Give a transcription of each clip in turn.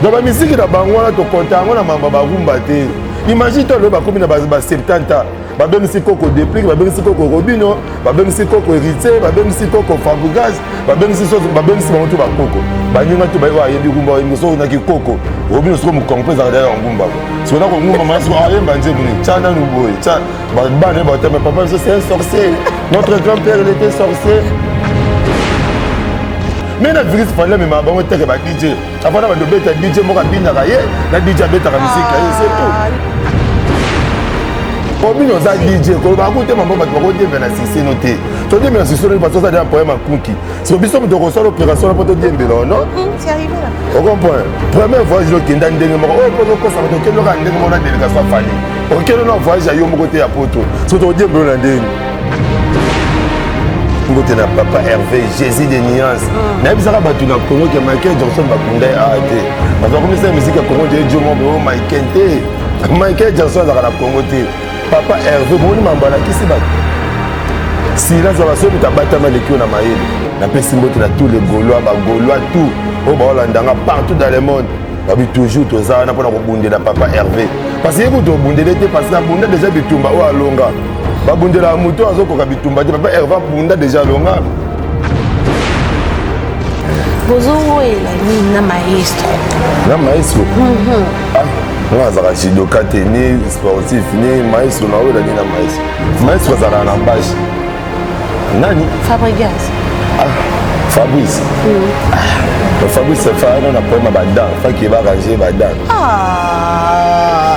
donc bamiziki na bango wana tokonta yango na mamba barumba te imagine to alobi bakomi na ba 70 babengisi koko deplique babengisi koko robino babengisi koko héritier babengisi koko fabrigage babengisi soso babengisi bango to bakoko baninga to bayebi ayebi rumba oyembi soki naki koko robino soko mokongo mpe ezalaka daya ya ngumba siko nako ngumba mana siko ayemba nzembo nini tya nanu boye tya Bana bato mais papa biso c'est un sorcier. Notre grand-père il était sorcier. Mais na virus fallait mais ma bango teke ba DJ. Avant na ba dobeta DJ moko abinaka ye, na DJ abetaka musique ye, c'est tout. obino oza dj koloba akute mambo bato bakodiembe na siseno te todiembe na siseno bato ozali na problème akuki siko biso moto okosala opération na mpo todiembela ono okomprendre premier voyage okenda ndenge moko oyo mpo okokosa bato okendokaka ndenge moko na délégation afali okende na voyage ya yo moko te ya poto soki tokodiemba yo na ndenge mbote na papa herve jésus de nuance mm. nayebisaka bato na congo ke michael johnson bakunda ye awa te bato bakomisa ya miziki ya congo te ejomobo oh, michael te michael johnson azalaka na congo te papa herve bomoni mambo alakisi bato silence ya basoki moto abatama lekio na mayele napesi mbote na tous les gaulois bagaulois tout oyo baolandanga partout dans le monde babi toujours toza wana mpona kobundela papa herve parce ye kutu obundele te parce abunda deja bitumba oyo alonga babundelaka moto oyo azokoka bitumba te papa herve abunda deja alonga bozowoyela nini na maestro na maestro mhm. ah, nga azalaka judoka te ni sportif ni maestro nawoyela nini na maestro maestro azalaka na base nani fabrigas ah, fabrice mm. ah, fabrice fana na problème ya badan faki barange badan ah.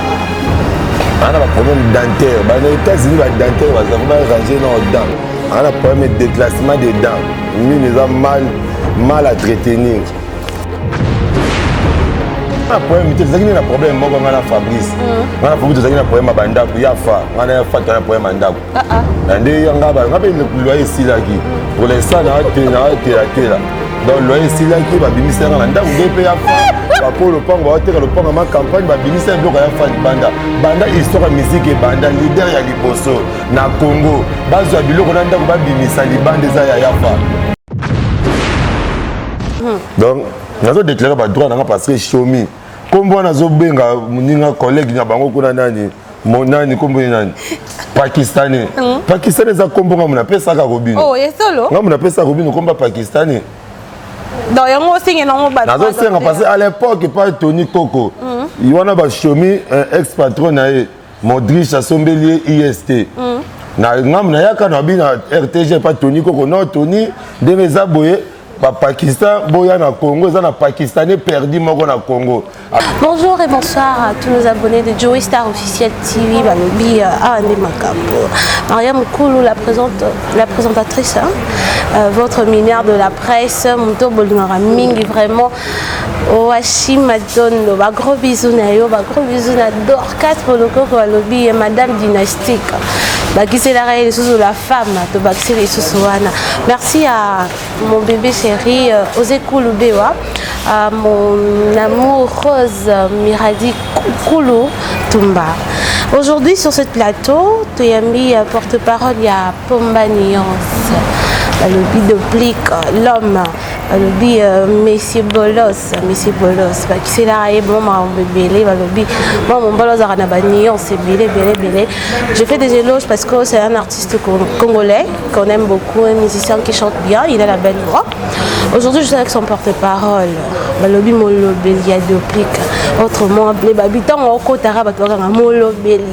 ana baproblème dentaire bana états-unis badentaire bazali barange na odan ana problème ya déclassement des dents mine eza mal mal à traitenir na problème te tozalaki nde na problème moko ngai na fabrice mm. ngai na fabrice tozalaki na problème ya bandako ya fa ngai na ya fa tozalaki na problème ya ndako ah, ah. na nde yanga nga mpe loye esilaki pour l'instant naatelatelatela donc loye esilaki babimisi yanga na ndako nde mpe ya bakoyo lopango baoteka lopango ma campagne babimisi ya biloko ya fani banda banda histoire ya miziki ebanda lider ya liboso na congo bazwa biloko na ndako babimisa libanda eza ya yafa hmm. donc nazo déclare badroit nanga parce que shomi nkombo wana azobenga moninga collègue na bango kuna nani Mon nani kombo ye nani pakistanais mm. pakistanais eza kombo ngambo napesaka kobino oh, ngambo napesaka kobino komba pakistanais donc yango osengi nango bato nazosenga parce que à l'époque epai tony koko mm. wana bashomi ex patron na ye modriche asombeli ye ist mm. na ngambo nayaka na bino rtg epai tony koko no tony ndenge eza boye ba Pakistan boya na Congo eza na Pakistanais perdu moko na Congo. Bonjour et bonsoir à tous nos abonnés de Joey Star officiel TV balobi euh, awa ah, nde makambo. Maria Mukulu la présente la présentatrice hein, euh, votre minière de la presse moto bolingaka mingi vraiment Owashi Mazondo, ba gros bisous na yo, ba gros bisous na Dorcas Polokoko alobi ye madame dynastique. Bakiselaka ye lisusu la femme, tobakisi lisusu wana. Merci à mon bébé chéri euh, Ose Kulu Bewa, à mon amour Rose Miradi Kulu Tumba. Aujourd'hui sur ce plateau, toyambi euh, porte-parole ya Pomba Nuance, balobi de plique l'homme balobi euh, monsieur bolos monsieur bolos bakiselaka ye bango makambo ebele balobi mwa mombala ozalaka na banuance ebele ebele ebele je fais des éloges parce que c'est un artiste congolais qu'on aime beaucoup un musicien qui chante bien il a la belle voix aujourd'hui je suis avec son porte-parole balobi molobeli ya doplique autrement ble babi ntango okotaka bato bakanga molobeli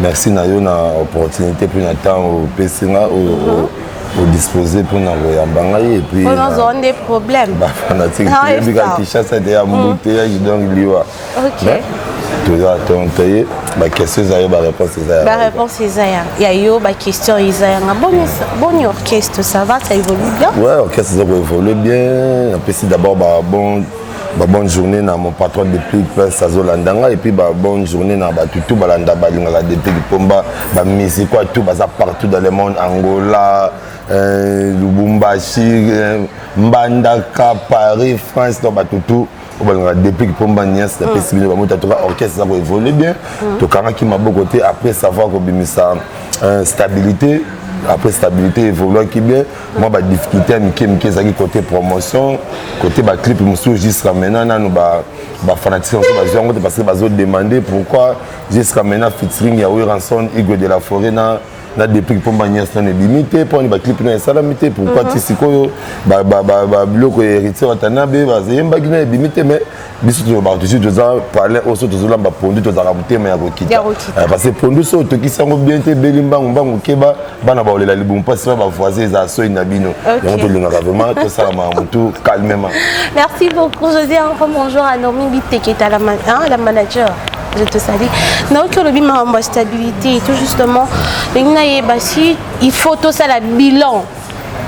merci na yo na opportunité mpe na ntango opesi nga odisposer mpo na koyamba ngai epuisnazwa nde problème bafanatique toyebika kinshasa ete ya mbuteyage donc liwa toza tonto ye baquestion eza yo baréponse eza ya baréponse eza ya yo baquestion eza yanga boni orchestre ça va ça évolue bien ouais orchestre eza koévolue bien napesi d'abord babon ba bonne journée na mon patron de plus prince azolanda ngai epuis ba bonne journée na bato tout balanda balingaka depuis lipomba bamusiko tout baza partout dans le monde angola euh, lubumbashi euh, mbandaka paris france na bato tout obalingaka depuis lipomba nias napesi mm. bino bamota toka orchestre eza koévolue bien mm. tokangaki maboko te après savoir kobimisa euh, stabilité après stabilité évoluaki bien mwa ba difficulté ya mike mike ezalaki côté promotion côté ba clip mosusu jusqu'à maintenant nanu ba ba fanatique mosusu bazwi yango te parce que bazo demander pourquoi jusqu'à maintenant featuring ya Wilranson Igwe de la Forêt na na depuis mpo mba nyonso nano ebimi te mpo ani baclip nayo esalami te pourquoi ti sikoyo biloko ya héritier watanabe bazeyembaki nayo ebimi te mais biso tolobaka tusi toza palin oyo so tozolamba pondu tozalaka motema ya kokita eh, parce que pondu so otokisi yango bien te ebeli mbangu mbangu keba bana baolela libumu mpasi na bavoisin eza soi na bino yango tolingaka vraiment tosala makambo tu calmement merci beaucoup josé encore bonjour à normi biteketa la manager je te salue naoki olobi makambo ya stabilité tout justement ndenge nayeba si il faut tosala bilan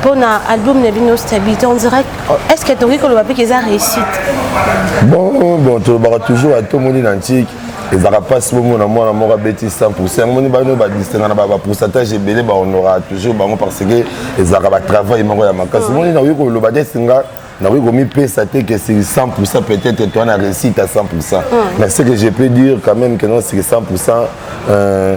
mpo na album na bino stabilité on dirait est ce que tokoki koloba mpe eza réussite bon bon tolobaka toujours ata omoni na ntiki ezalaka mpasi bomona mwana moko abeti 100 pourcent yango moni bano badistinga na bapourcentage ebele bahonoraka toujours bango parce que ezalaka batravail moko ya makasi mm. moni nakoki koloba te singa nakoki komipesa te que c'est 100 pourcent peut-être toi na réussite à 100 pourcent mm. mais ce que je peux dire quand même que non c'est 100 pourcent euh,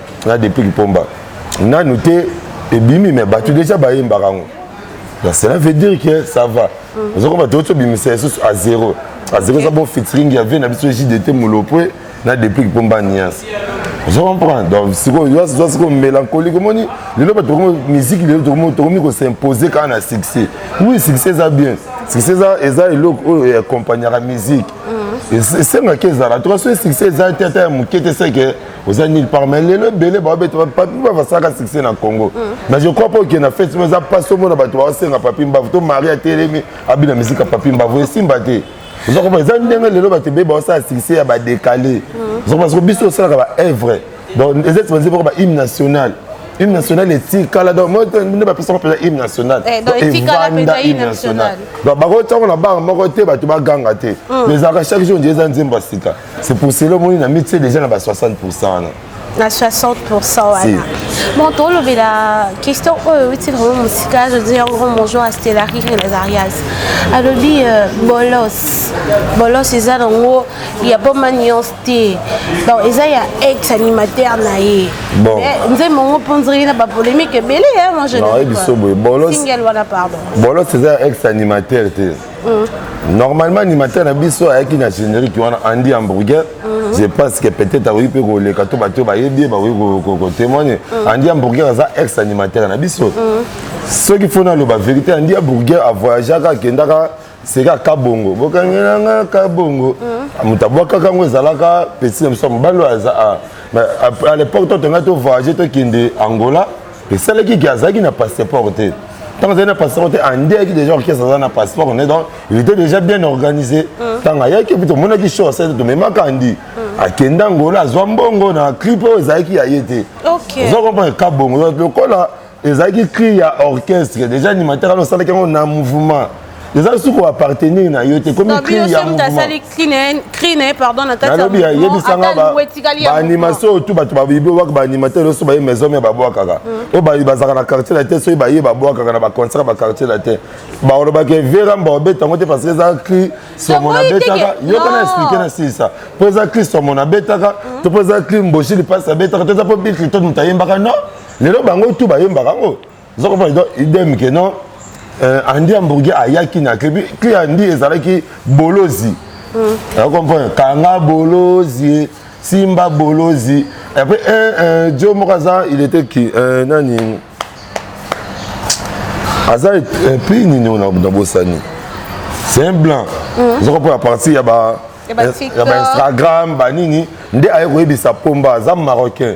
na depuis kipomba nanu te ebimi me bato deja bayembaka yango donc cela veut dire que ça va mm. ozo komba toyoti obimisa lisusu a zero a zero eza bon fitring ya vie na biso jdt molopwe na depuis kipomba niance ozo comprendre donc sikoyo yo aza sikoyo mélancolique omoni lelo bato tokomi miziki lelo tokomi kosimpose kaka na succès oui succès eza bien succès eza eloko oyo eakompagnaka miziki esengaki ezala toka soki succès eza te ata ya moke te seke oza nil par mais lelo ebele baobeta papi mbava asalaka succès na congo mm. mais je crois mpo okende na festival eza mpasi omona bato baosenga papi mbavu to mari atelemi abina mizika papi mbavu esimba te oza komona eza ndenge lelo bato ebele baosala succès ya badekale mm. oza komona soko biso osalaka baevre donc eza ti banzi boko bahymne national hymne national etikala donc moi nde bapesaka mpenza hymne national eh, evanda hymne national donc bakotiango na banga moko te bato baganga te mm. mais ezalaka chaque jour nje eza nzembo ya sika c'est pour cela omoni na mitie déjà na ba 60 pourcent wana na 60 pourcent wana bon tolobela question oyo euti na bango mosika azodi yango bonjour ya stellari relazarias alobi euh, bolos bolos eza nango ya boma nuance te bon eza ya ex animateur na ye eh, nzembo yango mpo nziri na bapolémique ebele ya mojebiso boye bolos wana pardon bolos eza ya ex animateur te Mm. normalement animateur na biso ayaki na générique wana andi hamburger mm. je pense que peut-être akoki mpe koleka to bato bayebi ye bakoki kotémoigne mm. andi hamburger aza ex animateur na biso soki fo naloba vérité andi hamburger avoyageaka akendaka seka kabongo bokangelanga kabongo moto abwakaka yango ezalaka pesi na biso mobali oyo aza à l'époque totongai tovoyage tokende angola esalaki ke azalaki na passeport te ntango azali na passeport te andi ayaki déjà orchestre aza na passeport ne donc il était déjà bien organisé ntango ayaki epi tomonaki show asali tomemaka andi akenda angola azwa mbongo na clip oyo ezalaki ya ye te oza comprendre ka bongo lokola ezalaki cri ya orchestre déjà animateur ana osalaki yango na mouvement eza lisusu koappartenir na yo te ekomi cri ya mouvement yebisanga baanimation oyo tu bato bayibi obwaka baanimateur nyonso baye maison mia babwakaka oyo bayi bazalaka na quartier latin soki baye babwakaka na baconcert ya baquartier latin balobaka vera mba obeta yango te parce que eza cri somo nabetaka yoka na explike na silisa mpo eza cri somo nabetaka to mpo eza cri mboshi lipasi abetaka to eza mpo bikrito moto ayembaka non lelo bango tu bayembaka yango oza comprendre donc idem ke non euh, andi hamburger ayaki na cli cli andi ezalaki bolozi hmm. oza comprendre kanga bolozi simba bolozi après un un dio moko aza il était qui euh, nani aza euh, pays nini oyo na bosani c'est un blanc hmm. oza comprendre à partir ya ba ya ba instagram banini nde aye koyebisa pomba aza marocain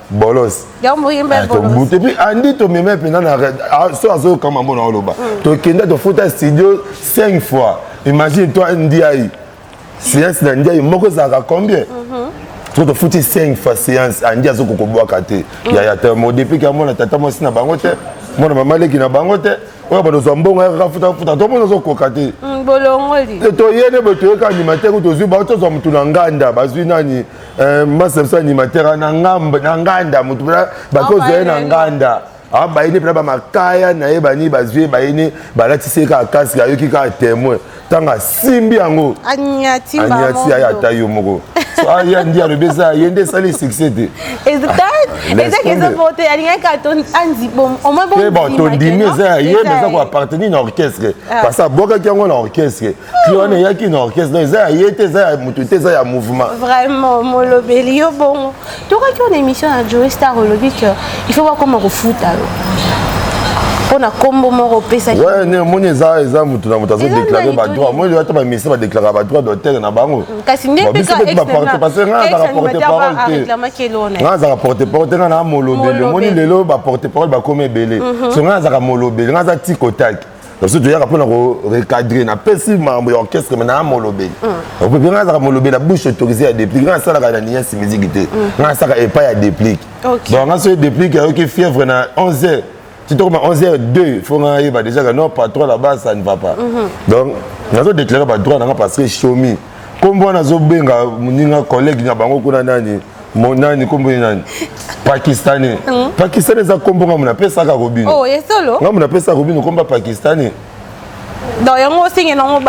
bolos tobuti epuis andi tomema mpenza na ah, so azoyoka mambo na oloba hmm. tokenda tofuta studio 5 fois imagine toi ndiai séance na ndiai moko ezalaka combien mhm. soki tofuti 5 fois séance andi azokokobwaka te hmm. yaya te modepiki amona tata mwasi na bango te mwana mama leki na bango te oyo bato zwa mbongo yaka futafuta to mona ozokoka te mm, bolongoli toyene boye toyoka animateur tozwi bao tozwa motu na nganda bazwi nani Euh, masa biso animateur na nganda motu mpena bakozwa ye na nganda abayini ah, mpena bamakaya na ye bani bazwi ye bayini balatisi ye kaka kasi ayoki kaka témoin ntango asimbi yango anyati yaye ata yo moko aya ndi alobi eza ye nde esali succès te tondimi eza ya ye mpe eza koappartenir na orchestre ah. parce abwakaki yango na orchestre Clown eyaki na orchestre donc eza ya ye te eza ya moto te eza ya mouvement vraiment molobeli yo bongo tokaki ona émission na joe star olobi que il faut bakoma kofuta yo mpo na nkombo moko opesaki ne omoni eza eza moto na moto azodeklare badroit moi ata bamisie badeklaraka badroit d'auteur na bango mm, kasi nde parce nga azaka porte parole te nga azaka porte parole te nga na molobeli omoni lelo baporte parole bakoma ebele mhm. so nga azaka molobeli nga aza tikotaki na biso toyaka mpo na korecadre napesi mambo ya orchestre mai naa molobeli mm. opepe ngai azaka molobeli ya bouche autorise ya déplique ngai asalaka na niasi miziki te mm. ngai asalaka epai ya déplique donc ngai soki déplique ayoki fièvre na 11 heures ti tokoma 11 heures 2 fo ngai ayeba déjà ka non patron là-bas ça ne va pas mhm. donc nazo déclare badroit na ngai parce que chomi kombo wana azobenga moninga collègue na bango kuna nani nani kombo ye nani pakistanais hmm? pakistanais eza kombo ngambo napesaka kobino oh, ngambo napesaka kobino kombo ya pakistanais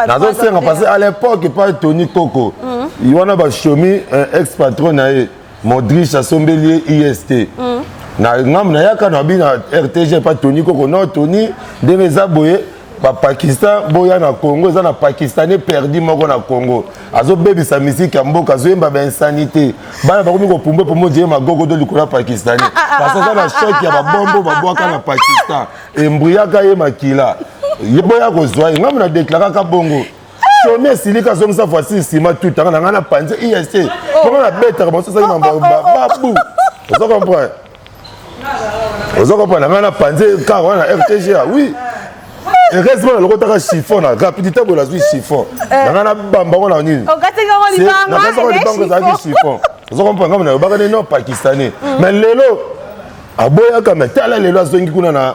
nazosenga parce à l'époque pa tony koko hmm. wana bashomi ex patron na ye Modric asombeli ye IST. Mm. Na ngambo nayaka na bi na RTG pa Tony Koko non Tony ndenge eza boye ba Pakistan boya na Congo eza na Pakistanais perdu moko na Congo azobebisa miziki ya mboka azoyemba ba insanité bana bakomi kopumba pombo je magogo do likolo ya Pakistanais ah, ah, ah, parce aza na choc ya babombo babwaka na Pakistan embruyaka ye makila ye boya kozwa ye ngambo na deklaraka bongo soni esilika azongisa voici nsima tutanga na ngai na panze ic mponga na betaka banso esaki mambo babu ozo comprendre ozo comprendre na ngai na panze kaka wana rtga oui heureusement nalokotaka chiffon na rapidité boye nazwi chiffon eh. na ngai nabamba ngo na nini nakasaka libango ezalaki chiffon ozo comprendre ngambo nayobaka nini no pakistanais hmm. mais lelo aboyaka me tala lelo azongi kuna na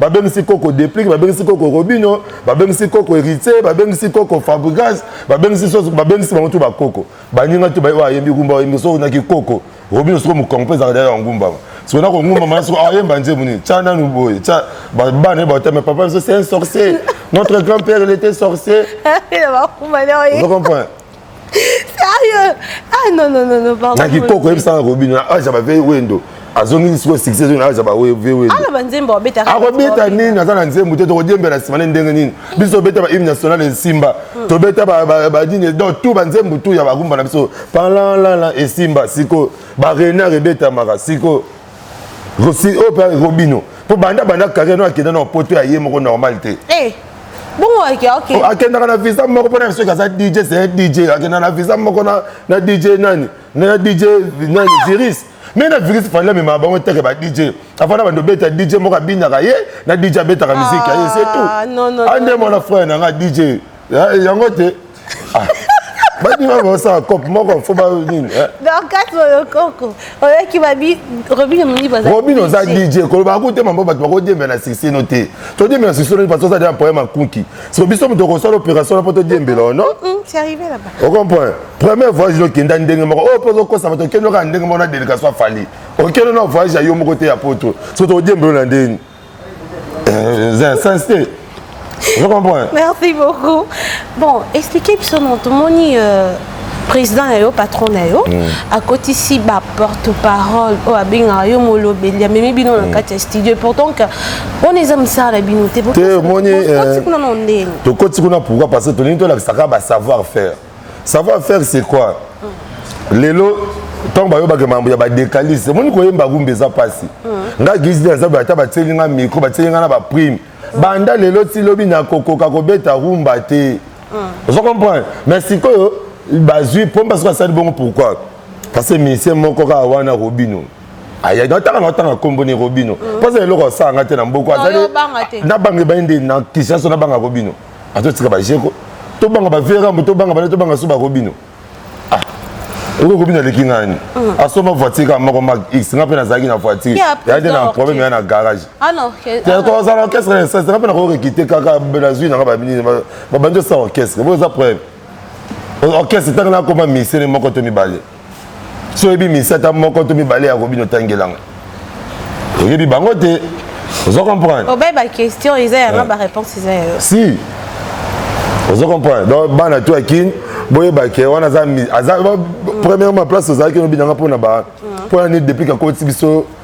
babengisi koko deplic babengisi koko robino babengisi koko héritier babengisi koko fabrigas babengisi soso babengisi bango tu bakoko baninga tu baye ayembi ngumba oyembi soko naki koko robino soko mokongo mpe ezalaka daya ya ngumbama soko nako ngumbama na soko ayemba nzembo nini tya nanu boye tya bana ye baotame papa biso c'est un sorcier notre grand père il était sorcier ozo comprendre sérieux ah non non non non pardon na kikoko yebisa na kobino na aja ba veille wendo azongisi sikoyo succès ezongi na aja ba veille wendo ala ba nzembo abeta akobeta nini aza na nzembo te tokodiembela nsima ne ndenge nini biso tobeta ba hymne national esimba hmm. tobeta badini donc tout banzembo tout ya bagumba na biso palalala esimba sikoyo ba renard ebetamaka sikoyo Rosi oyo pe Robino po banda banda carrière no akenda na poto ya ye moko normal te. Eh. Bongo ake okay. Oh, akendaka na visa moko pona biso kaza DJ c'est DJ akenda na visa moko na na DJ nani na DJ nani virus. Mais na virus fanda mema bango teke ba DJ. Afanda bando beta DJ moko abinaka ye na DJ abetaka ah, musique ye c'est tout. Ah non non. Ande mwana frère na nga DJ. Ya- eh, yango te Ah. badima basala cope moko fo ba nini eh? dorcas molokoko oyaki babi robino monibo aza robin oza dj koloba yango te mambo bato bakodiembe na sisi no te todiembe na sisi no parce ozali na problème ya kunki siko biso moto okosala opération na mpo todiembela ono Mm, c'est arrivé là-bas okomprendre premier voyage nokenda ndenge moko oyo mpo ozokosa bato okende okaka ndenge moko na délégation afali okende na voyage ya yo moko te ya poto siko tokodiembelo na ndeni eza ya sens te je comprends merci beaucoup bon expliquez biso non tomoni euh, président na yo patron na yo mm. akotisi baporte parole oyo abengaka yo molobeli amemi bino na mm. kati ya studio et pourtant que wana eza mosala na bino te omoni euh, tokoti kuna pourquoi parce que tolingi tolakisaka basavoir faire savoir faire c'est quoi lelo ntango bayobaka mambo ya badecaliste omoni koyemba rumba eza mpasi hmm. nga gisde aza ata batieli nga micro batieli nga na baprime hmm. banda lelo ti lobi nakokoka kobeta rumba te hmm. ozo comprendre mais sikoyo bazwi pomba soki asali bongo pourquoi parce que misie moko kaka wana robino ayaki natanga natanga nkombo ni robino mposa eloko asala nga te na mboko azali nabanga ebai nde na kisiaso nabanga robino ato tika ba jeko to banga ba vera mbo to banga ba to banga so ba robino ah oko kobina leki ngani mm. asoma voiture ka moko mag x nga pe nazalaki na voiture ya de na problème ya na garage ah non que ah to za orchestre na sasa nga pe na ko rekite kaka na zui na ba bini ba bandi sa orchestre bo za problème orchestre tanga na koma misere moko to mibale so oyebi misata moko to mibale ya robino otangelanga oyebi bango te ozo comprendre obai baquestion eza yanga baréponse eza yayo si ozo comprendre donc bana to ya kin boyeba ke wana aza premièrement place ozalaki nobinanga mpona ba mpo ya nini depuis kakoti biso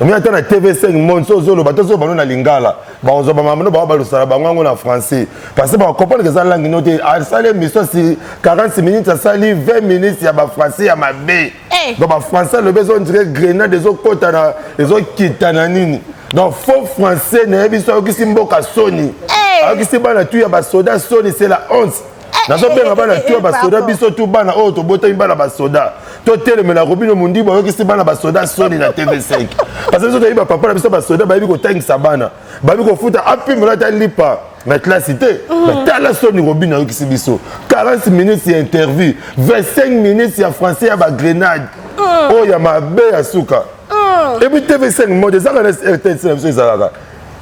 omi ata na tv5 monde so ozoloba to ozoloba no na lingala bakozwa bamamano bao balosala bango yango na français parce que bakompreneke eza langue no te asali émission asi 40 minutes asali 20 minutes ya bafrançais ya mabe eh. donc bafrançais alobi ezondire grenade ezokotana ezokita na nini donc faux français nayebi so ayokisi mboka soni eh. ayokisi bana tu ya basoda soni c'est la honte nazobenga bana eh, tu basoda biso tu bana oyo tobotami bana basoda totelemela robino mondibu ayokisi bana basoda soni na tv5 parce biso toyebi bapapa na biso basoda bayebi kotangisa bana bayebi kofuta apimela ata lipa na klasi te batala mhm. soni robino ayokisi biso 40 minutes ya interview 25 minutes ya français ya bagrenade mhm. oyo ya mabe ya suka mhm. ebi tv5 mode ezalaka na rtns na biso ezalaka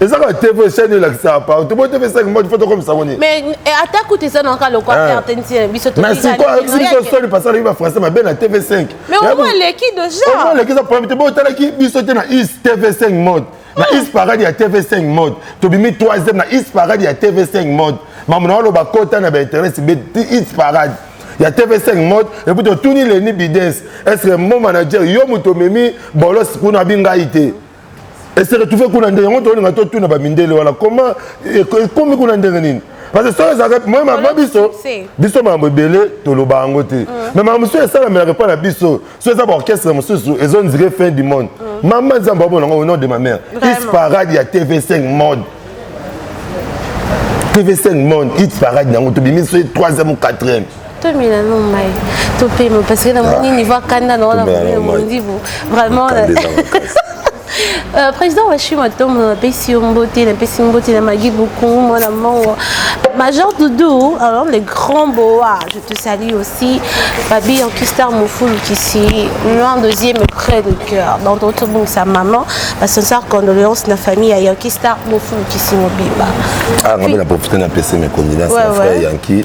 eza kaka tv chaine elakisaka partout bo tv saki modi foto komisa ngo nini mais eh, ata kutu eza naka lokwa eh. perte ntina eh, biso na siko ayebisi biso soni parce alaki ba français mabe na tv 5 mais omo aleki deja omo aleki eza problème te bo otalaki biso te na is tv 5 mode na is parade ya tv 5 mode tobimi 3e na is parade ya tv 5 mode mamu na oloba kota na bainteresse be is parade ya tv5 mode eputi otuni leni bides est ce que mo manager yo moto omemi bolos kuna abi ngai te ese retrouve kuna ndenge yango tolinga totuna bamindele wana koma ekomi kuna ndenge nini parce que soki ezalaka moye mama biso biso makambo ebele toloba yango te mm. mais makambo mosusu esalamelaka epai na biso so eza baorchestre mosusu ezondire fin du monde mm. mama nzambe abona yango au nom de ma mère is parade ya tv5 mode tv5 monde hit parade yango tobimi so troisième ou quatrième tomela no mai topema parce que namoni niveau akanda na wana mondibu vraiment Euh, président washi matombo napesi yo mbote napesi mbote na magi bokungu mwana mongo major doudou alors le grand boa je te salue aussi babi ankistar mofulu kisi loin deuxième près de cœur donc totobongisa maman basincère condoléance na famille ya yankistar mofulu kisi mobimba ah, nga mpe na profite napesi mes condoléance na frère yanki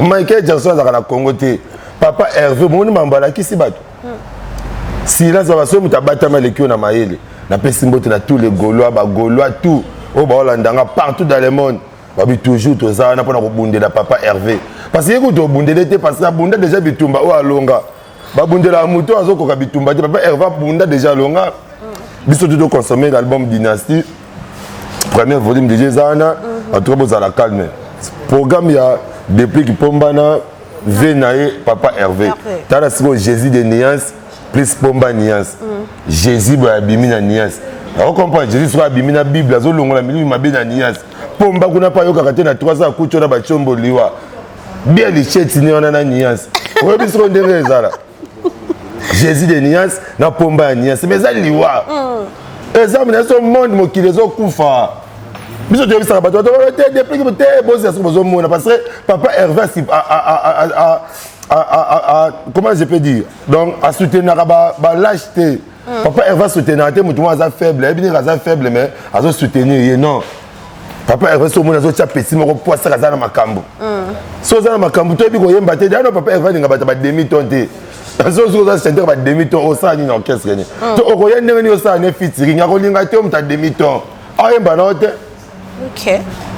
michael jackson azalaka na congo te papa herve bomoni mambo alakisi bato silence papa soki moto abatami aleki yo na mayele napesi mbote na tous les gaulois bagaulois tout oyo baolanda nga partout dans le monde babi toujours toza wana mpona kobundela papa herve parce que ye kutu obundele te parce que abunda déjà bitumba oyo alonga babundelaka moto oyo azokoka bitumba te papa herva bunda déjà longa biso tuto consommer l'album dynastie première volume déjà eza wana mhm. en tout cas bozala calme programme ya déplique pombana ve na ye papa herve tala sikoyo jésus de nuance plus pomba nuance mhm. jésus boye abimi na nuance okomprendre jésus soki abimi na bible azolongola milimo mabe na nuance pomba kuna mpe ayokaka te na 3 ans akuti ona batiombo liwa bia licheti ni wana na nuance oyebi soko ndenge ezala jésus de nuance na pomba ya nuance mais eza liwa mm. eza mina so monde mokili ezokufa biso toyebisaka bato bato te depuis te bozela soki bozomona parce que papa herve comment je peux dire donc asoutenaka balage te mm. papa herve asoutenaka te motu moko aza faible ayebi nini aza faible mais azosoutenir ye non papa herve so omoni azotya pesi moko po asaka aza na makambo mm. so oza na makambo toyebi koyemba te dano papa herve alinga bato ba demi ton te soki oza chanteur ba demi ton osala nini orchestre nini mm. to okoya ndenge nini osala ne fitiring akolinga te omuta demi ton ayemba nao te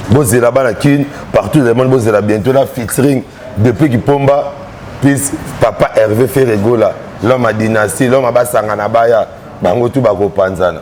bozela bana kin partout le monde bozela bientôt na fitiring depuis kipomba plus papa herve ferregola l'homme ya dynastie l'homme abasangana baya bango tu bakopanzana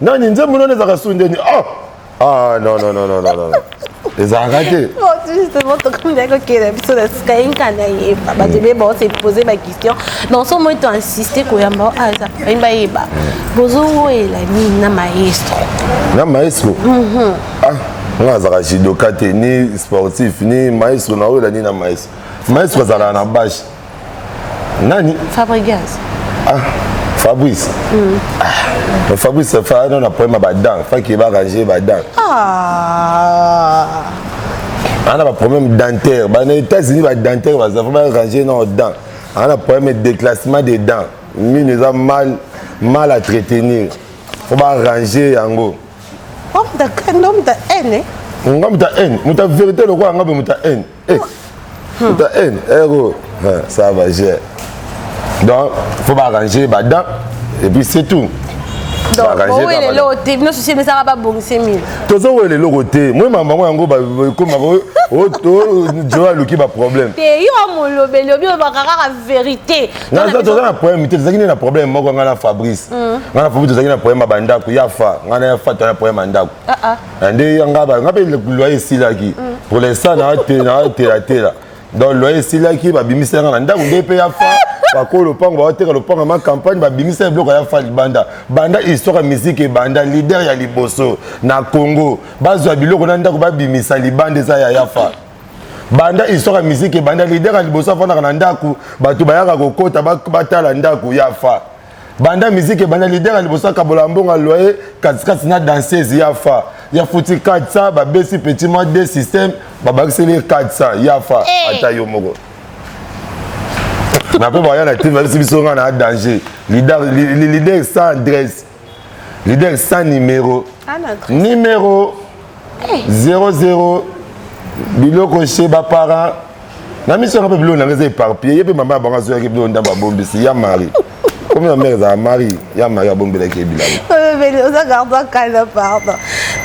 nani nzembo nani ezalaka su ndeni ah! ah non non non non non ezalaka te justement tokomaki kokende biso na sika ye nka nayeba bato ebeba ose pose baquestion na nso moi to insiste koyamba aza bayimba yeba bozowela nini na maestro na maestro mhm. ah, nga azalaka judoka te ni sportif ni maestro naoyela nini na maestro maestro azalaka na bashe nani fabrigas ah, fabrice mm. ah, fabrice fa non na problème ba dents fa qui va ranger ba dents ah ana ah, ba problème dentaire ba na états-unis ba dentaire ba vraiment ranger nos dents ana ah, problème de déclassement des dents mine eza mal mal à entretenir faut ba ranger yango homme de homme de haine eh? nga muta haine muta vérité lokola nga mpe muta haine Eh, ta haine, héros. Eh, ça va, j'ai. Donc, faut m'arranger, bah, dents, et puis c'est tout. tozowela eloko te moi mama yango yango bakoma joe aluki baproblème toza na problème te tozalaki nde na problème moko ngai na fabrice ngai na fabrice tozalaki na problème ya bandako ya fa ngai na ya fa toza na problème ya ndako Ah, nde ya nga ba nga mpe loyer esilaki mm. pour l'instant na telatela donc loyer esilaki babimisi yanga na ndako nde mpe ya fa bakoya lopango baoteka lopango ma campagne babimisa ya biloko ya fa libanda banda histoire ya miziki ebanda lider ya liboso na congo bazwa biloko na ndako babimisa libanda eza ya yafa banda histoire ya miziki ebanda lider ya liboso afandaka na ndako bato bayaka kokota batala ndako ya fa banda miziki ebanda lider ya liboso akabola mbongo aloye katikati na danseuse ya fa ya futi 400 babesi petit mwa de système babakiseli ye 400 ya fa eh. ata yo moko na mpe baya na tv babisi biso ngai na danger lider sans adresse lider sans numéro ah, numéro 00 eh. biloko chez baparent na miso yanga mpe biloko nanga eza éparpillé ye mpe mama ya bango azoyaki biloko ndambo abombisi ya mari komi ya mare ezala mari ya mari abombelaki ye bilabo oza gardo akala pardon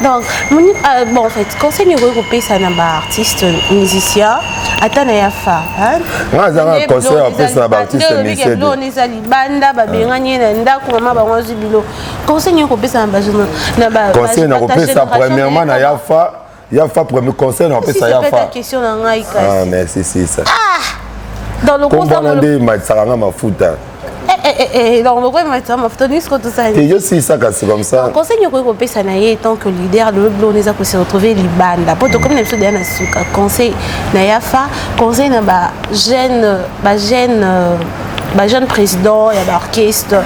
donc euh, bon en fait conseil nini okoki kopesa na baartiste musicien ata na ya fa nga azanga conseil ya kopesa na baartiste musicien eza libanda babengani ye na ndako mama bango azwi bilo conseil nini okopesa na conseil nakopesa premièrement na ya fa ya fa premier conseil na pesa ya fa question na ngai kasi ah merci sisa ah dans le conseil kombo nde matisaka nga mafuta elongo lokola matisa mafuta nini siko tosali te yosilisaka se comme ça conseil nini okoki kopesa na ye tant que leader lelo bilona eza kose retrouve libanda mpo tokomi na biso deya na suka conseil na yafa conseil na bajeune bajeune ba jeune président ya baorchestre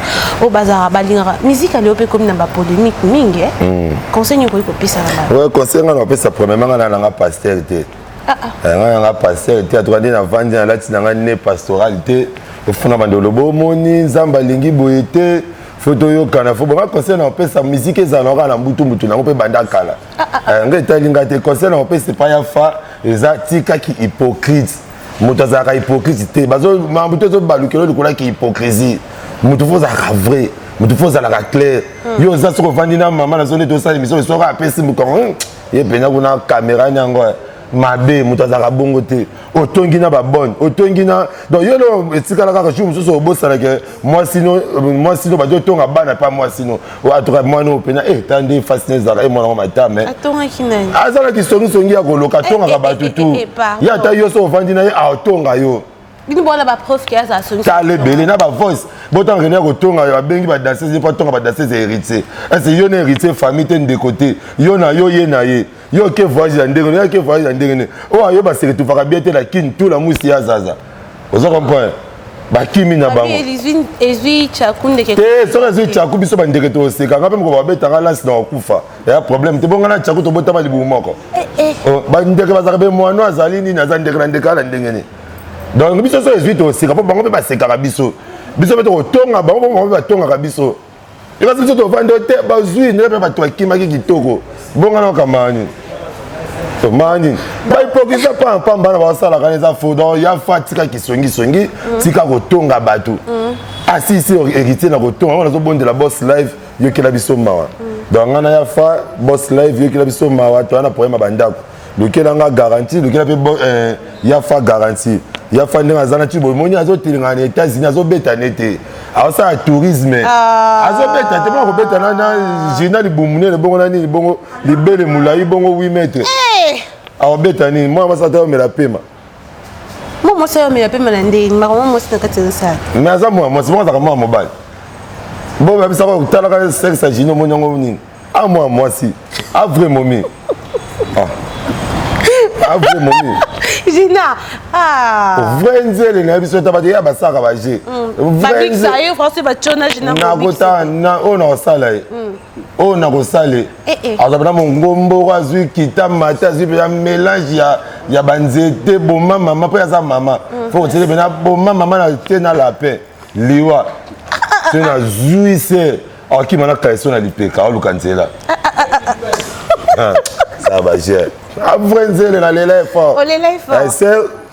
oyo bazalaka balingaka miziki ya lelo mpe ekomi na bapolémique mingi eh. hmm. conseil nini okoki kopesa na bango conseil ngai nakopesa premièrement ngai na nanga pasteur te ah, ah. eh, ngai nanga pasteur te atuka nde navandi nalati na ngai ne pastoral te ofuna bande oloba omoni nzambe alingi boye te fo toyokana fo bonga conseil na opesa miziki ezala kaka na mbutumbutu nango mpe banda kala ah, eh, ngai etali ngai te conseil na opesa epai ya fa eza tikaki hypocrite moto azalaka hypocrite te makambo te ezobalukelo likolo yaki hypocrisie moto fo ozalaka vrai moto fo ozalaka claire hmm. yo oza soki ovandi na mama na zone ete osala emission soki apesi mokongo hmm, ye mpenza kuna kamera ni yango mabe moto azalaka bongo te otongi na babone otongi na donc yo no etikala kaka jour mosusu obosanake mwasi no mwasi no bazo tonga bana pa mwasi no atoka mwana oyo pena eh ta nde fasi na ezalaka e mwana ngo matama eh. atongaki nani azalaki songi songi ya koloka eh, atongaka eh, bato eh, tu ye ata yo so ovandi na ye atonga yo bino bona bapreuve ke azala songi tala ebele na bavoice botanga kende ya kotonga babengi badansese mpo atonga badansese héritier ese yo na héritier famille te ndeko te yo na yo ye na ye yo oke voyage ya ndenge yo oke voyage ya ndenge nini oyo ayo baseke tufaka bie te na kini tu na mwisi ya zaza oza comprendre bakimi na bango te soki ezwi chaku biso bandeke toseka nga mpe moko babetanga lasi na kokufa ya problème te bonga na chaku tobotama libumu moko eh, eh. Oh, bandeke bazalaka be mwano azali nini aza ndeke na ndeke ala ndenge nini donc biso soki ezwi toseka mpo bango mpe basekaka biso biso mpe tokotonga bango mpo bango mpe batongaka biso ebasi biso tovandi te bazwi ndenge mpe bato bakimaki kitoko bonga na kamani tomani bahypokrisia mpa mpamba na basalaka eza fo donc ya fa tika kisongisongi mm. tika kotonga bato mm. asisi ah, héritier na kotonga yango nazobondela boss live yokela biso mawa mm. donc ngai na ya fa boss live yokela biso mawa toya na problème ya bandako lukela nga garanti lukela mpe eh, ya fa garanti ya fa ndenge aza na ti boye moni azotelengana na états-unis azobeta ne te asala tourisme ah. azobeta te bongo kobeta na jina libumu nene bongo na nini bongo libele molai bongo 8 mètre eh. akobeta nini mwana masala te omela pema mwa mwasi oyo amela pema na ndenge nini makambo mwasi na kati ezosala mais aza mwa mwasi moko azalaka mwa mobali bo babisa ko talaka sexe ya jino omoni yango nini a mwa mwasi a vrai momi ah. a vrai momi jina ah. vrai nzele na biso ta bato ya basaka baje mm. nakotala oyo nakosala ye mm. oyo nakosale eh, eh. azwa mpena mongomboko azwi kita mata azwi mpena mélange ya, ya banzete boma mama mpo aza mama mm. fo kotieke mpena boma mama na te na lapin liwa so nazwi se akima na kaiso na lipeka aoluka nzela ah, ça va j'ai après nzela na lela effort na ese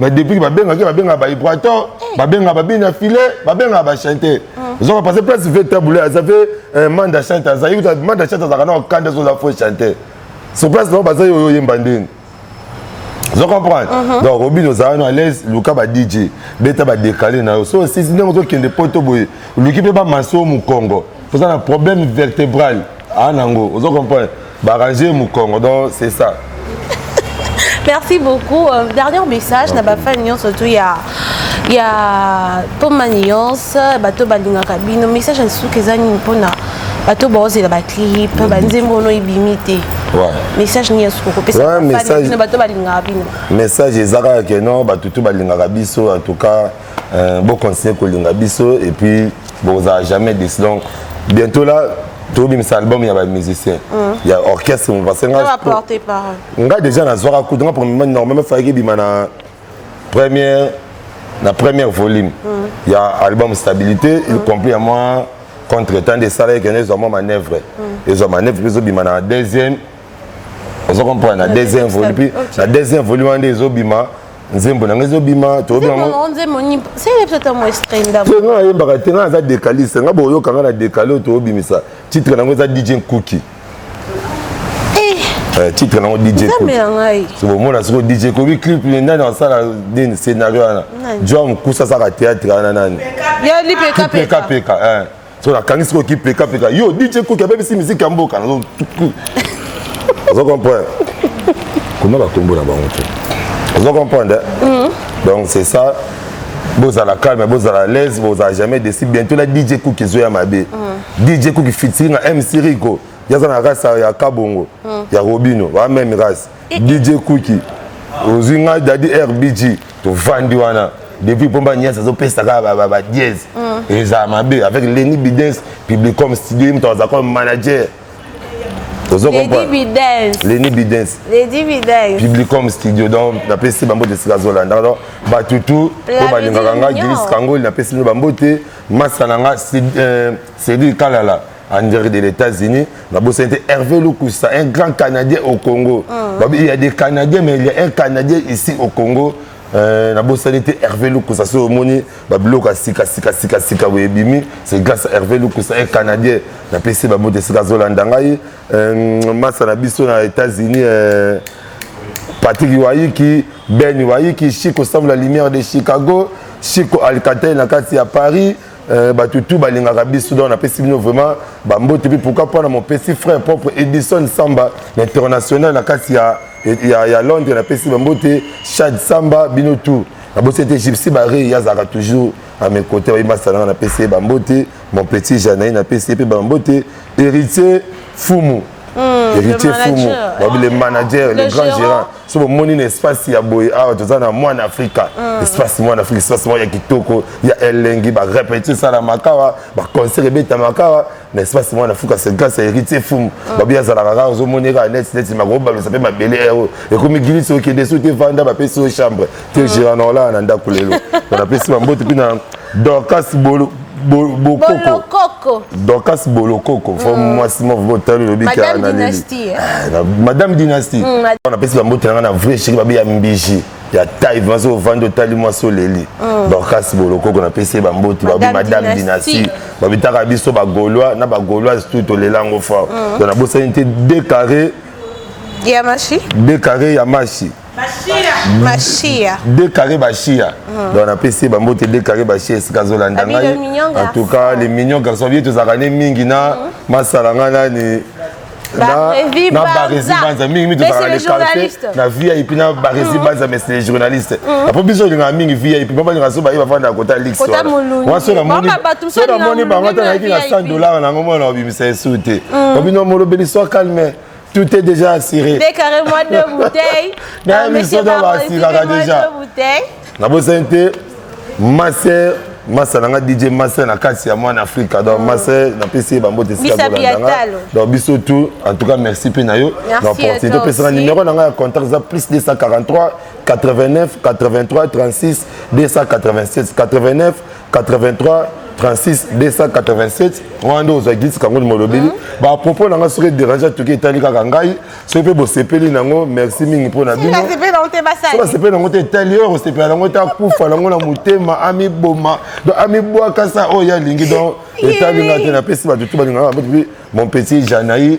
mais depuis que babengaki babengaka bahibraton eh. babengaka babini ya filet babengaka bachante oza kopase place vetabule aza mpe eh, manda chante azali kuta manda chante azalaka na okanda ezoza fo chante sur place bango bazali oyo oyemba ndeni ozo comprendre mhm. donc obini ozala no alaise luka ba dj beta badekale na yo so osisi ndenge ozokende poto boye oluki mpe bamaso mokongo oza na problème vertébral a ah, nango ozo comprendre barranger mukongo donc c'est ça merci beaucoup euh, dernier message na bafani nyonso tu ya ya mpoma nyonso bato balingaka bino message ya suki eza nini mpona bato baozela baclip mm. banzembo ono ebimi te message nini asuku kopesa bato balingaka bino message eza kaka ke non bato tu balingaka biso en tout cas Euh, bo continuer kolinga biso et puis bokozala jamais déçu donc bientôt là tobimisa album ya bamusicien mm. ya orchestre parce que nga déjà nazwaka kutu nga premièrement normalement fayaki ebima na première na première volume mm. ya album stabilité il mm. complet ya mwa contre temps esalaki kende ezwa mwa manœuvre ezwa manœuvre mpe ezobima na deuxième ozo comprendre na deuxième volume puis na deuxième volume wana nde ezobima nzembo na ngai ezobima toyobiyango ayembaka te ngai aza decaliste ngai boyoka ngai na decale oyo toyobimisa titre nango eza dj nkuki eh. eh, titre nango djomona siko dj kobi clip nani asala nini scénario wana joa mokusa asaka théâtre wana nani pekapeka so nakangi sikoyo kipekapeka yo dj koki abebisi miziki ya mboka nazo ozo comprendre koma bakombo na bango te ozo comprendre mm. donc c'est ça bozala calme bozala laise bozala jamais desi bientôt na dj cook ezo ya mabe mm. dj cook fitiri na mc rico yaza na race ya kabongo mm. ya robino ba même race eh, eh. dj cooki ozwi ngai dadi rbg tovandi wana depuis pomba nias azopesa kaka badiese mm. ezala mabe avec leni bidens publicom studio ye moto aza comme manager ozo comprendreleni bidens publicom studio donc napesi bambote esika azolanda donc bato tout oyo balingaka nga gilis kangoli napesi bino bambote masa na nga cedri euh, kalala en direct de l'États-Unis nabosani te Hervé Lukusa un grand Canadien au Congo ah. il y a des Canadiens mais il y a un Canadien ici au Congo euh, nabosani te Hervé Lukusa soki omoni babiloko ya sika sika sika sika boye ebimi c'est grâce à Hervé Lukusa un Canadien napesi bamoto esika azolanda ngai euh, masa na biso na États-Unis euh, Patrick Iwayiki Ben Iwayiki Chico Sam la lumière de Chicago Chico Alcatel na kati ya Paris Euh, bato tu balingaka biso donc napesi bino vraiment bambote mpe pourquoi mpo na mopesi frère propre edison samba na international na kati ya, ya, ya londres napesi bambote chad samba bino tout nabosi ete gypsy barei azalaka toujours à mes côtés oyebi masalanga napesi ye bambote mon petit janai napesi ye mpe bambote héritier fumu Hmm, héritier fumu babi le manager le grand gérant so bomoni na espace ya boye awa toza na mwana afrika hmm. espace mwana afrika espace moko ya kitoko ya elengi barepeti esalamaka awa baconcert ebetamaka awa na espace mwana afrika c'est grâce ya héritier fumu hmm. babi azalaka kaka ozomoni kaka neti neti makobalusa mpe mabele ero ekomi gilisi okende so te vanda bapesi yo chambre te jera na olaa na ndako lelo napesi bambote mpe na dorcas bolo bolokoko dorcas bolokoko fo mm. mwasi moko botali lobi kaka na leli eh? ah, madame dynastie mm, napesi bambote na ngai na vrai sheki babe ya mbiji ya taille vraiment soki ovandi otali mwasi oleli mm. dorcas bolokoko napesi ye bamboti babi madame dynastie babitaka biso bagaulois na bagauloise tout tolela yango fort donc nabosani te decarre ya mashi decarre ya mashi Mashia. Deux carrés Bashia. Mm. Donc on a PC Bambo te deux carrés Bashia esika zolanda ngai. En tout cas les mignons garçons bien tous arane mingi na mm. masalanga na ni na baresi banza mingi mingi tozalaka le quartier na vip na baresi banza mais les journalistes apo biso olingaka mingi vip mpo balingaka so baye bafanda kota lix wana so namoni bango ata nayaki na 100 dollar nango mwana obimisa esu te obino molobeli so calme Tout est déjà assuré. Décarrez-moi deux bouteilles. Dans monsieur Baba, ici, dans déjà. Deux bouteilles. Na bosse te, ma sœur, ma sœur, nga DJ ma sœur na kasi ya mwana Afrika. Donc ma sœur, na pesi ba mbote sika ko ndanga. Donc biso tout, en tout cas merci pe na yo. Donc pour te pesi na numéro na nga contact za plus 243 89 83 36 287 89 83 36 287 wana nde ozwa gilisi kango molobeli mm-hmm. bapropos na ngai soki dérange atoki etali kaka ngai soki mpe bosepeli nango merci mingi mpo na binobasepeli nango te etali oyo kosepela nango te akufa nango na motema amiboma donc amibwakasa oyo ye alingi donc etali ngai te napesi bato tu balingaka mon petit janai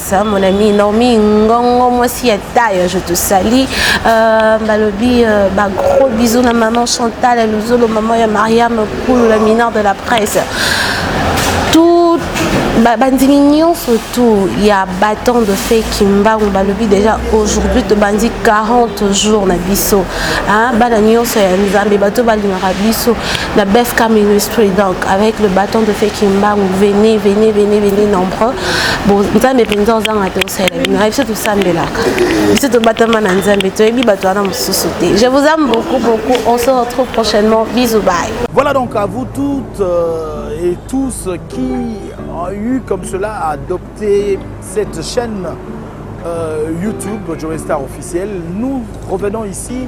ça mon ami Naomi Ngongo moi si ya taille je te salue euh, balobi euh, ba gros bisous na maman Chantal à Luzolo maman ya Mariam Koulou la mineure de la presse tout bandimi nyonso tout ya baton de fait kimbangu balobi déjà aujourd'hui tobandi 40 jours na biso bana nyonso ya nzambe bato balingaka biso la BFK Ministry, donc avec le bâton de feu Kimbangu, venez, venez, venez, venez nombreux. Bon, nzambe penza ozanga te osalela bino ayebi se tosambelaka biso tobatama na nzambe toyebi bato wana mosusu te je vous aime beaucoup beaucoup on se retrouve prochainement bisous bye voilà donc à vous toutes euh, et tous qui ont eu comme cela à adopter cette chaîne euh, YouTube Joe Star officielle nous revenons ici